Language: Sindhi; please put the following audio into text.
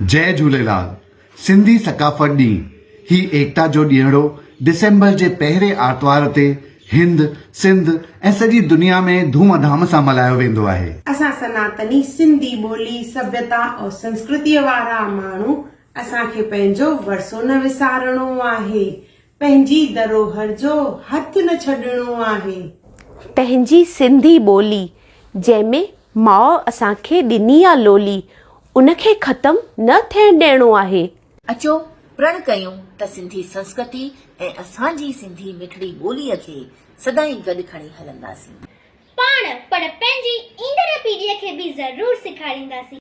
جئه جهوليلال، سنڌي ثقافت ڏينهن، هي ايڪتا جو ڏينهڙو ڊسمبر جي پهرين آرتوار تي هند، سنڌ ۽ سڄي دنيا ۾ ڌوم ڌام سان ملهايو ويندو آهي. اسان سناتني سنڌي ٻولي، سڀيتا ۽ سنسڪرتيء وارا ماڻهو اسان کي پنهنجو ورثو نه وسارڻو آهي، پنهنجي ڌروهر جو هٿ نه ڇڏڻو آهي. پنهنجي سنڌي ٻولي جنهن ۾ ماء اسان کي ڏني آ لولي، ان کي ختم نه ٿيڻ ڏيڻو آهي. اچو پرڻ ڪيون ته سنڌي سنسڪرتي ۽ اسان جي سنڌي مٺڙي ٻوليء کي سدائين گڏ کڻي هلنداسين. پاڻ پر پنهنجي ايندڙ پيڙهيء کي به ضرور سيکارينداسين.